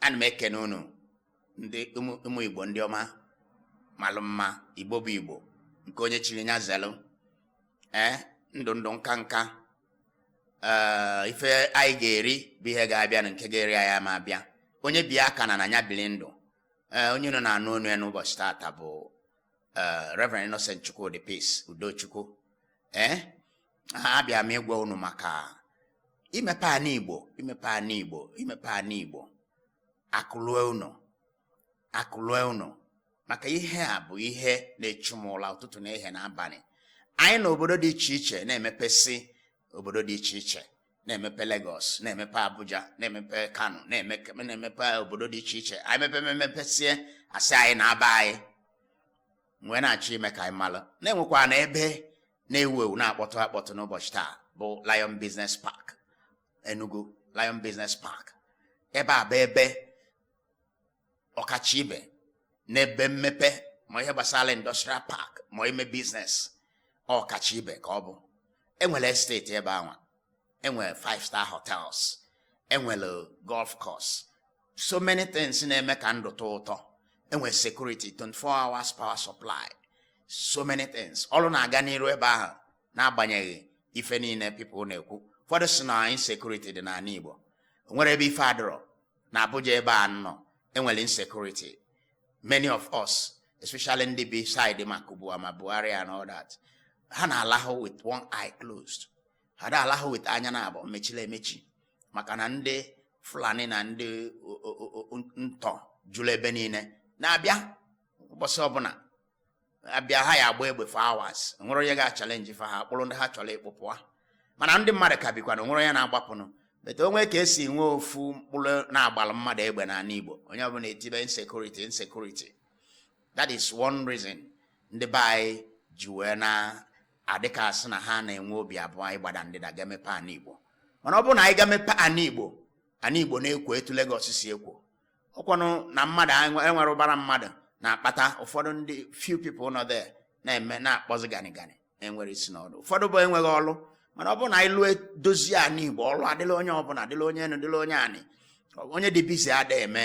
ana m ekene unu ndị ụmụ igbo ndị ọma malụ mma igbo bụ igbo nke onye chiri nya zelụ ee ndụ ndụ nka nka ee ife anyị ga-eri bụ ihe ga-abịa na nke ga-eri anyị ama abịa onye bi aka na na nya bili ndụ ee onye nọ na-anụ onu ya n'ụbọchị taata bụ Reverend Innocent Chukwudi Peace Udochukwu ee abịa m ịgwa unu maka imepe ana igbo imepe ana igbo imepe ana igbo akụ lue ụnọ akụ lue ụnọ maka ihe a bụ ihe na-echu m ụla ụtụtụ na ehihie na abalị anyị na obodo dị iche iche na-emepesị obodo dị iche iche na-emepe Lagos na-emepe Abuja na-emepe Kano na-emepe obodo dị iche iche anyị mepe memepesie asị anyị naa be anyị wee na-achọ ime ka anyị malụ na enwekwanụ ebe na-ewu ewu na-akpọtụ akpọtụ n'ụbọchị taa bụ Lion Business Park Enugu Lion Business Park ebe a bụ ebe ọkacha ibe n'ebe mmepe ma ihe gbasara industrial park ma ime business ọkacha ibe ka ọ bụ enwere estate ebe anwa enwere five star hotels enwere golf course so many things na-eme ka ndụ tọọ ụtọ enwere security 24 hours power supply so many things ọrụ na-aga n'iru ebe ahụ n'agbanyeghị ife niile people na-ekwu ụfọdụ si na insecurity dị n'anị Igbo nwere ebe ife adọrọ na Abuja ebe a m nọ enwere insecurity many of us especially ndị bi side ma Kubwa ma Bwari and all that ha na-alahụ with one eye closed ha ada alahụ with anya naabọ mechili emechi maka na ndị Fulani na ndị ntọ julu ebe niile na-abịa ụbọsị ọbụna abịa ha ya agba egbe for hours nwere onye ga-achallenge fa ha kpụrụ ndị ha chọrọ ịkpụ pụa mana ndị mmadụ ka bikwanụ onwerọ onye na-agbapụnụ but onwee ka esi nwee ofu mkpụrụ na agbalụ mmadụ egbe n'ala Igbo onye ọbụla etibe insecurity insecurity that is one reason ndị be anyị ji wee na-adịka asị na ha na-enwe obi abụọ ịgbada ndịda gaa mepe ana Igbo mana ọ bụrụ na anyị gaa mepe ana Igbo ana Igbo na-ekwo etu Lagos si ekwo ọkwanụ na mmadụ enwerọ ụbara mmadụ na-akpata ụfọdụ ndị few people nọ there na-eme na-akpọzi gani gani enwerọ isi na ọdụ ụfọdụ bụ enweghị ọlụ mana ọ bụrụ na anyị lụọ dozie anị Igbo ọlụ adịlị onye ọbụla adịlị onye enu dịlị onye anị onye dị busy ada eme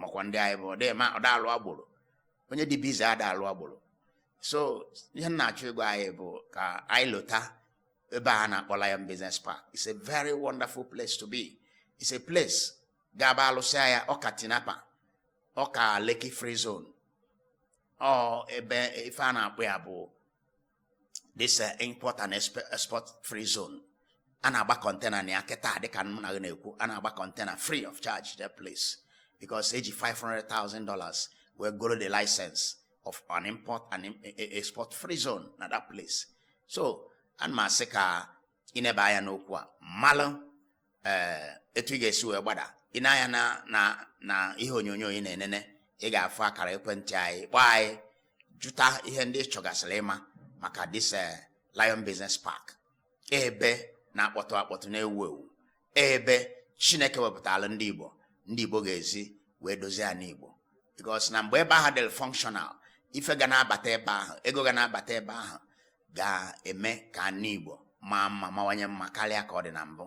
makwa ndị anyị bụ ọdịma ọdalụ agboro onye dị busy ada alụ agboro so ihe m na-achọ ịgwa anyị bụ ka anyị lute ebe a na-akpọ Lion Business Park it's a very wonderful place to be it's a place ga-abụ a lụsịa ya ọ ka Tinapa ọ ka Lekki free zone ọ ebe ife a na-akpọ ya bụ this uh, import and export free zone a na-agba container na ya kịta dịka m na na-ekwu a na-agba container free of charge that place because eji 500,000 dollars wee goro the license of an import and e, e, export free zone na that place so ana m asị ka i neba anya n'okwu a malụ ee etu ị ga-esi wee gbada i nee anya na na na ihe onyonyo ị na-enene ị ga-afụ akara ekwentị anyị kpọọ anyị jụta ihe ndị ị chọgasịrị ịma maka this eh, Lion Business Park ebe na-akpọtụ akpọtụ na-ewu ewu ebe Chineke wepụtara ndị Igbo ndị Igbo ga-esi wee dozie ana Igbo because na mgbe ebe ahụ dịrị functional ife ga na-abata ebe ahụ ego ga na-abata ebe ahụ ga-eme ka ana Igbo maa mma mawanye mma karịa ka ọ dị na mbụ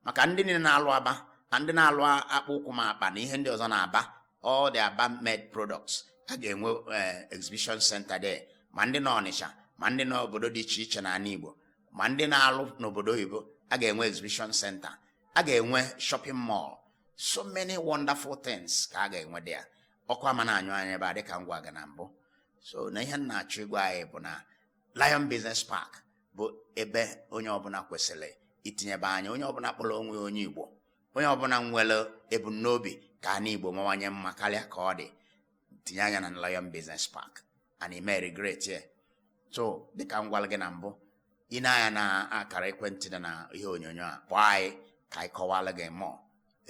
maka ndị niile na-alụ Aba na ndị na-alụ akpụ ụkwụ ma akpa na ihe ndị ọzọ n'Aba all the Aba made products a ga-enwe eh, exhibition center there ma ndị na Ọnịcha ma ndị na obodo dị iche iche n'ana Igbo ma ndị na-alụ n'obodo oyibo a ga-enwe exhibition center a ga-enwe shopping mall so many wonderful things ka a ga-enwe there ọkụ ama na-anyụ anyụ ebe a dịka m gwara gị na mbụ so na ihe m na-achọ ịgwa anyị bụ na Lion Business Park bụ ebe onye ọbụla kwesịrị itinyebe anya onye ọbụla kpọrọ onwe ya onye Igbo onye ọbụla nwere ebumnobi ka ana Igbo mawanye mma karịa ka ọ dị tinye anya na Lion Business Park and ị ma regret ya so dịka m gwara gị na mbụ i nee anya na akara ekwentị dị na ihe onyonyo a kpọọ anyị ka anyị kọwara gị more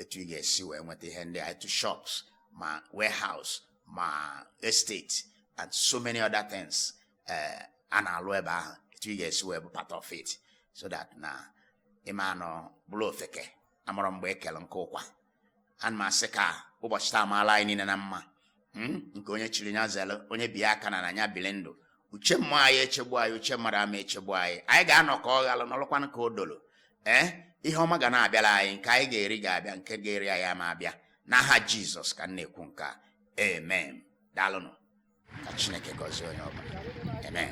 etu ị ga-esi wee nweta ihe ndị a etu shops ma warehouse ma estate and so many other things eh, a na-alụ ebe ahụ etu ị ga-esi wee bụ part of it so that na ị ma anọ bụrụ ofeke amarọ mgbe e kele nkụ ụkwa ana m asị ka ụbọchị taa maala anyị niile na mma hmm? nke onye chiri nya zere onye bi aka n'ana nya bili ndụ uche mmụọ ama echegbu anyị uche mmadụ ama echegbu anyị anyị ga-anọ ka ọ ghalụ nọlụkwanụ ka o dolo ee eh? ihe ọma ga na-abịara anyị nke anyị ga-eri ga-abịa nke ga-eri anyị ama abịa n'aha Jizọs ka m na-ekwu nke a amen daalụnụ ka Chineke gọzie onye ọbụla amen